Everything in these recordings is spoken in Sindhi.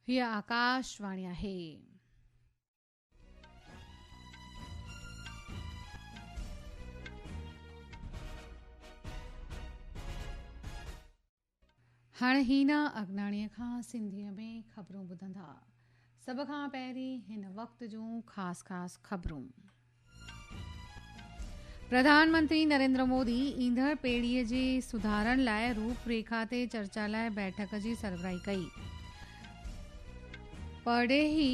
هيء آڪاش واڻي آهي. هاڻي هينا اگناڻي کان سنڌيء ۾ خبرون ٻڌندا. سڀ کان پهرين هن وقت جون خاص خاص خبرون. پرڌان منتري نريندر مودي ايندڙ پيڙهي جي سڌارن لاء روپ ريکا تي چرچا لاء بيٺڪ جي سربراهي ڪئي. پرڏيهي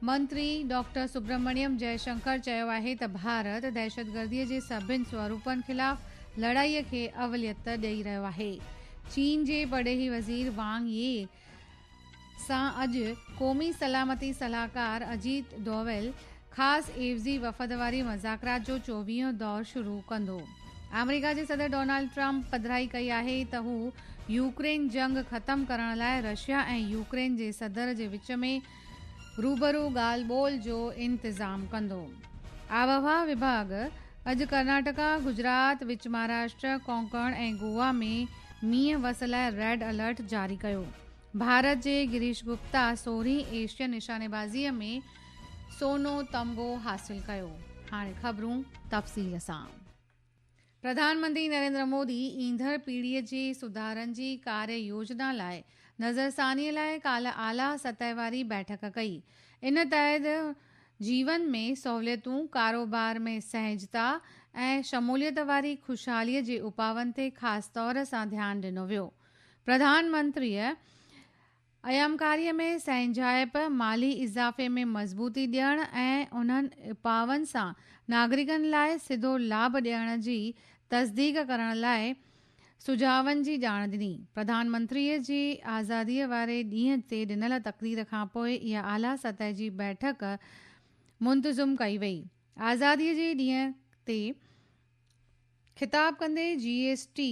منتري ڊاڪٽر سبرمڻيم جئي شنڪر چيو آهي ته ڀارت دهشتگردي جي سڀني سوروپن خلاف لڙائي کي اوليت ڏئي رهيو آهي. چين جي پرڏيهي وزير وانگ يي سان اڄ قومي سلامتي صلاحڪار اجيت ڊوويل خاص عيوضي وفد واري مذاڪرات جو چوويهون دور شروع ڪندو. آمريڪا جي صدر ڊونالڊ ٽرمپ پڌرائي ڪئي آهي ته هو يوڪرين جنگ ختم ڪرڻ لاء رشيا ۽ يوڪرين جي صدر جي وچ ۾ روبرو ڳالهه ٻولهه جو انتظام ڪندو. آبهوا وڀاڳ اڄ ڪرناٽڪا، گجرات، وچ مهاراشٽر، ڪونڪڻ ۽ گوا ۾ مينهن وس لاء ريڊ الرٽ جاري ڪيو. ڀارت جي گريش گپتا سورهين ايشين نشانيبازيء ۾ سونو تمغو حاصل ڪيو. هاڻي خبرون تفصيل سان. پرڌانمنتري نريندر مودي ايندڙ پيڙهي جي سڌارن جي ڪاري يوجنا لاء نظرثاني لاء ڪالهه اعليٰ سطح واري بيٺڪ ڪئي، ان تحت جيون ۾ سهوليتون، ڪاروبار ۾ سهجتا ۽ شموليت واري خوشحالي جي اپاون تي خاص طور سان ڌيان ڏنو ويو. پرڌانمنتريء ايامڪاريء ۾ سهنجائپ، مالي اضافي ۾ مضبوطي ڏيڻ ۽ انهن اپائن سان ناگرڪن لاء سڌو لاڀ ڏيڻ جي تصديق ڪرڻ لاء سجهاون جي ڄاڻ ڏني. پرڌان منتريء جي آزاديء واري ڏينهن تي ڏنل تقرير کانپوء اها اعليٰ سطح جي بيٺڪ منتظم ڪئي وئي. آزاديء جي ڏينهن تي خطاب ڪندي جي ايس ٽي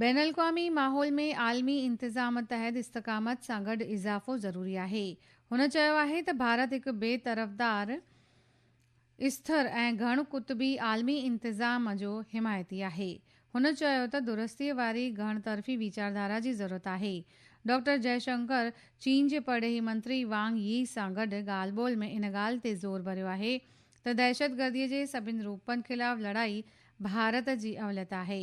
بين الاقوامي ماحول ۾ عالمي انتظام تحت استقامت سان گڏ اضافو ضروري آهي. هن چيو آهي ته ڀارت هڪ بي طرفدار، استر ۽ گهڻ قطبي عالمي انتظام جو حمايتي آهي. هن چيو ته درستي واري گهڻ طرفي ويچاردارا جي ضرورت آهي. ڊاڪٽر جئي شنڪر چين جي پرڏيهي منتري وانگ يي سان گڏ ڳالهه ٻولهه ۾ ان ڳالهه تي زور ڀريو آهي ته دهشتگردي جي سڀني روپن خلاف لڙائي ڀارت جي اوليت آهي.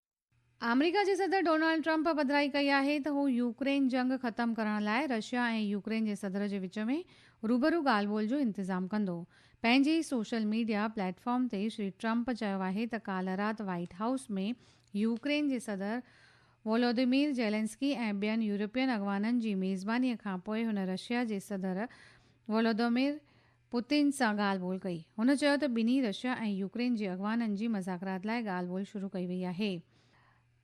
آمريڪا جي صدر ڊونلڊ ٽرمپ پڌرائي ڪئي آهي ته هو يوڪرين جنگ ختم ڪرڻ لاء رشيا ۽ يوڪرين جي صدر جي وچ ۾ روبرو ڳالهه ٻولهه جو انتظام ڪندو. پنهنجي ئي سوشل ميڊيا پليٽ فارم تي شري ٽرمپ چيو آهي ته ڪالهه رات وائيٽ هائوس ۾ يوڪرين جي صدر وولوديمير زيلنسڪي ۽ ٻين يورپين اڳواڻن جي ميزباني کانپوء هن رشيا جي صدر وولودومير پوتين سان ڳالهه ٻولهه ڪئي. هن چيو ته ٻنهي رشيا ۽ يوڪرين جي اڳواڻن جي مذاڪرات لاء ڳالهه ٻولهه شروع ڪئي وئي آهي.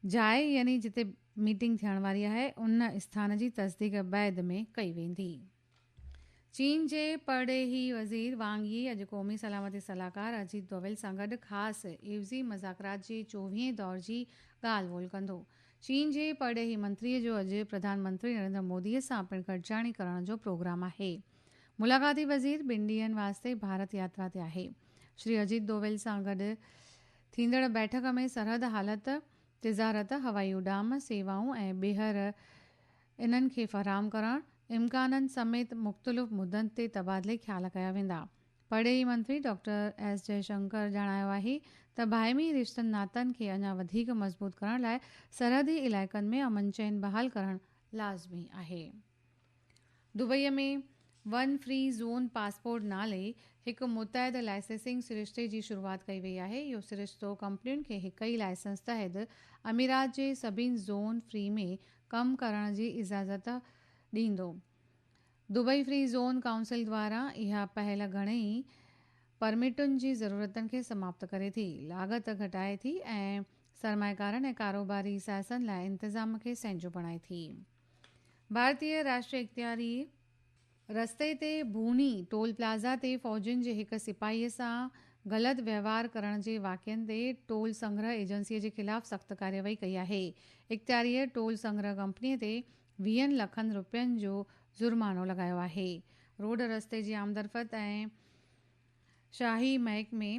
جاء يعني جتي ميٽنگ ٿيڻ واري آهي ان اسٿان جي تصديق بعد ۾ ڪئي ويندي. چين جي پرڏيهي وزير وانگ يي اڄ قومي سلامتي صلاحڪار اجيت ڊوويل سان گڏ خاص عيوضي مذاڪرات جي چوويهين دور جي ڳالهه ٻولهه ڪندو. چين جي پرڏيهي منتري جو اڄ پرڌان منتري نريندر مودي سان پڻ گڏجاڻي ڪرڻ جو پروگرام آهي. ملاقاتي وزير ٻن ڏينهن واسطي ڀارت ياترا تي آهي، شري اجيت دوول سان گڏ ٿيندڙ بيٺڪ ۾ سرحد حالت، تجارت، هوائي اڏام سيوائون ۽ ٻيهر انهن کي فراهم ڪرڻ امڪانن سميت مختلف مدن تي تبادلي خيال ڪيا ويندا. پرڏيهي منتري ڊاڪٽر ايس جئي شنڪر ڄاڻايو آهي ته باهمي رشتن ناتن کي اڃا وڌيڪ مضبوط ڪرڻ لاء سرحدي علائقن ۾ امن چين بحال ڪرڻ لازمي آهي. Dubai ۾ one free zone passport نالي هڪ متحده لائسنسنگ سرشتي جي شروعات ڪئي وئي آهي. اهو سرشتو ڪمپنين کي هڪ ئي لائسنس تحت اميرات جي سڀني زون فري ۾ ڪم ڪرڻ جي اجازت ڏيندو. دبئي فري زون ڪائونسل دواران اها پهل گهڻي ئي پرمٽن جي ضرورتن کي سماپت ڪري ٿي، لاڳت گهٽائي ٿي ۽ سرمائيڪارن ۽ ڪاروباري سائسن لاء انتظام کي سهنجو بڻائي ٿي. ڀارتيه راشٽري اختياري رستي تي ڀوني ٽول پلازا تي فوجين جي هڪ سپاهي سان غلط وهنوار ڪرڻ جي واقعن تي ٽول سنگرهه ايجنسي جي خلاف سخت ڪارروائي ڪئي آهي. اختياريء ٽول سنگرهه ڪمپني تي ويهن لکن رپين جو جرمانو لڳايو آهي. روڊ رستي جي آمدرفت ۽ شاهي محڪمي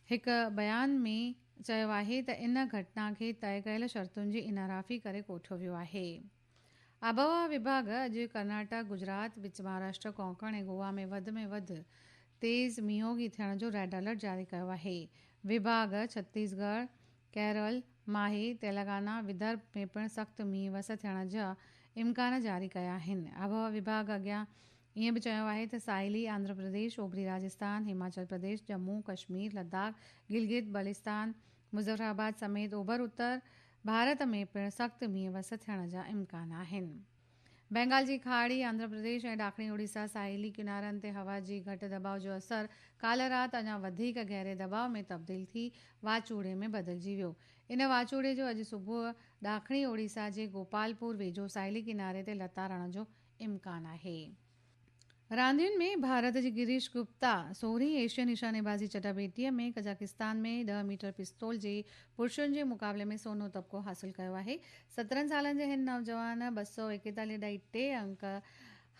هڪ بيان ۾ چيو آهي ته ان گهٽنا کي طئي ڪيل شرطن جي انحرافي ڪري ڪوٺيو ويو آهي. آبهوا وڀاڳ اڄ ڪرناٽڪ، گجرات، وچ مهاراشٽر، ڪونڪڻ ۽ گوا ۾ وڌ ۾ وڌ تيز مينهوگي ٿيڻ جو ريڊ الرٽ جاري ڪيو آهي. وڀاڳ ڇتيس ڳڙهه، ڪيرل، ماهي، تيلنگانا، ودرڀ ۾ پڻ سخت مينهن وس ٿيڻ جا امڪان جاري ڪيا آهن. آبهوا وڀاڳ اڳيان ائين به چيو آهي ته ساحلي آنڌرا پرديش، اوڀري راجستان، هماچل پرديش، ڄمون، ڪشمير، لداخ، گلگت بلستان، مظفر آباد سميت اوڀر اتر ڀارت ۾ پڻ سخت مينهن وس ٿيڻ جا امڪان آهن. بينگال جي کاڙي، آنڌرا پرديش ۽ ڏاکڻي اوڙيسا ساحلي ڪنارن تي هوا جي گهٽ دٻاء جو اثر ڪالهه رات اڃا وڌيڪ گهري دٻاء ۾ تبديل ٿي واچوڙي ۾ بدلجي ويو. ان واچوڙي جو اڄ صبح ڏاکڻي اوڙيسا جي گوپالپور ويجهو ساحلي ڪناري تي لتاڙڻ جو امڪان آهي راندين ۾ ڀارت جي گريش گپتا سورهين ايشين نشانيبازي چٽاڀيٽيء ۾ قزاقستان ۾ ڏهه ميٽر پستول جي پرشن جي مقابلي ۾ سونو تمغو حاصل ڪيو آهي سترهن سالن جي هن نوجوان ٻه سؤ ايڪيتاليهه ڏهائي ٽي انڪ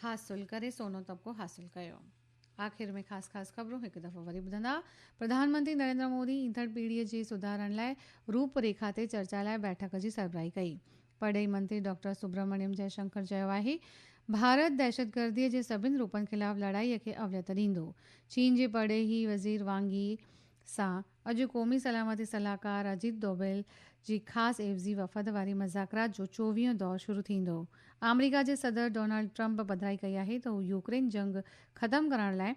حاصل ڪري سونو تمغو حاصل ڪيو. آخر ۾ خاص خاص خبرون هڪ دفعو وري ٻڌندا. پرڌان منتري نريندر مودي ايندڙ پيڙهيء جي سڌارن لاء روپ ريکا تي چرچا لاء بيٺڪ جي سربراهي ڪئي. پرڏيهي منتري ڊاڪٽر سبرامڻيم جئي شنڪر چيو آهي ڀارت دهشتگرديء جي سڀني روپن خلاف لڙائيء کي اوليت ڏيندو. چين جي پرڏيهي وزير وانگ يي سان اڄ قومي سلامتي صلاحڪار اجيت دوبل جي خاص عيوضي وفد واري مذاڪرات جو چوويهون دور شروع ٿيندو. آمريڪا جي صدر ڊونلڊ ٽرمپ پڌرائي ڪئي آهي ته هو يوڪرين جنگ ختم ڪرڻ لاء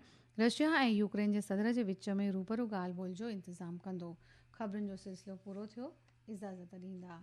رشيا ۽ يوڪرين جي صدر جي وچ ۾ روبرو ڳالهه ٻولهه جو انتظام ڪندو. خبرن جو سلسلو پورو ٿيو. اجازت ڏيندا.